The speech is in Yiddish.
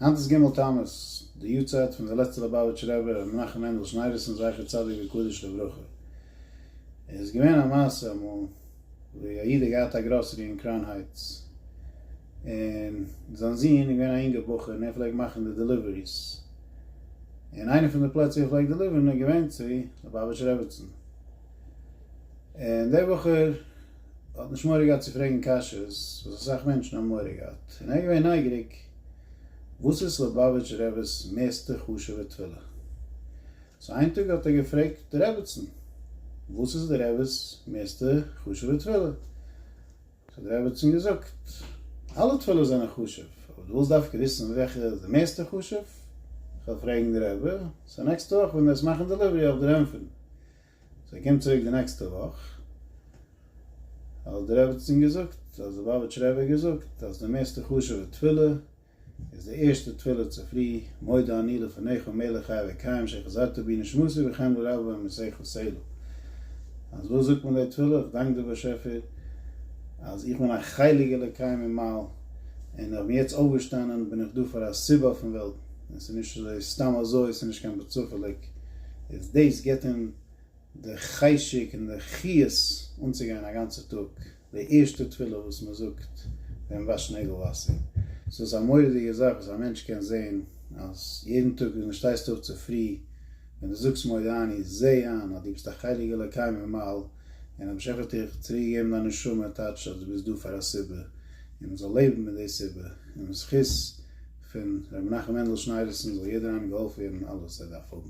היינט איז ג' תמוז, די יארצייט פון די לעצטע ליובאוויטשער רבי רבי מנחם מענדל שניידערסאן זכר צדיק וקדוש לברכה. עס איז געווען א מעשה אמאל ווי א איד האט געהאט א גראסערי אין קראון הייטס, און זיין זון איז געווען א יונגער בחור און ער פלעגט מאכן די דעליוועריס, און איינע פון די פלעצער ווי ער פלעגט דעליווערן איז געווען צו ליובאוויטשער רעביצן, און דער בחור האט נישט מורא געהאט צו פרעגן קשיות וואס אסאך מענטשן האבן מורא געהאט, און ער איז געווען נייגעריג, וואס איז ליובאוויטש רב'ס מערסטע חשוב'ע תפילה? סאו איין טאג האט ער געפרעגט די רעבעצן וואס איז די רב'ס מערסטע חשוב'ע תפילה? סאו האט די רעבעצן געזאגט אלע תפילות זענען חשוב אבער דו ווילסט דווקא וויסן וועלכע איז די מערסטע חשוב? כ'וועל פרעגן די רבי, סאו נעקסטע וואך ווען דו וועסט מאכן דעליווערי אויף דיר ענטפערן. זיי קומט צוריק די נעקסטע וואך אז די רעבעצין געזאגט אז די באבעטש רבי האט געזאגט אז די מערסטע חשובע תפילה איז די ערשטע תפילה צופרי מודה אני לפניך מלך חי וקיים שחזרת בי נשמתי וכן לרבה במסכת סלו אז וואס זאגט מען די תפילה איך דאנק דיר באשעפער אז איך בין א חלק אלוקי ממעל און איך בין יעצט אויפגעשטאנען בין איך דא פאר א סיבה פון וועלטן און ס'איז נישט אזוי סתם אזוי ס'איז נישט קיין בצפה'ליג איז דאס גיבט אים די חשק און די חיות אנצוגיין א גאנצע טאג, די ערשטע תפילה וואס מען זאגט ווען מען וואשט נעגל וואסער, סאו ס'איז א מורא'דיגע זאך וואס א מענטש קען זען אז יעדן טאג ווען דו שטייסט אויף צופרי ווען דו זאגסט מודה אני, זע איין אז דו ביסט א חלק אלוקי ממעל און דער באשעפער האט דיך צוריקגעגעבן דיין נשמה, טייטש אז דו ביסט דא פאר א סיבה און מען זאל לעבן מיט די סיבה און בזכות פון רבי מנחם מענדל שניידערסאן זאל יעדער איינער געהאלפן ווערן אלעס ער דארף האבן.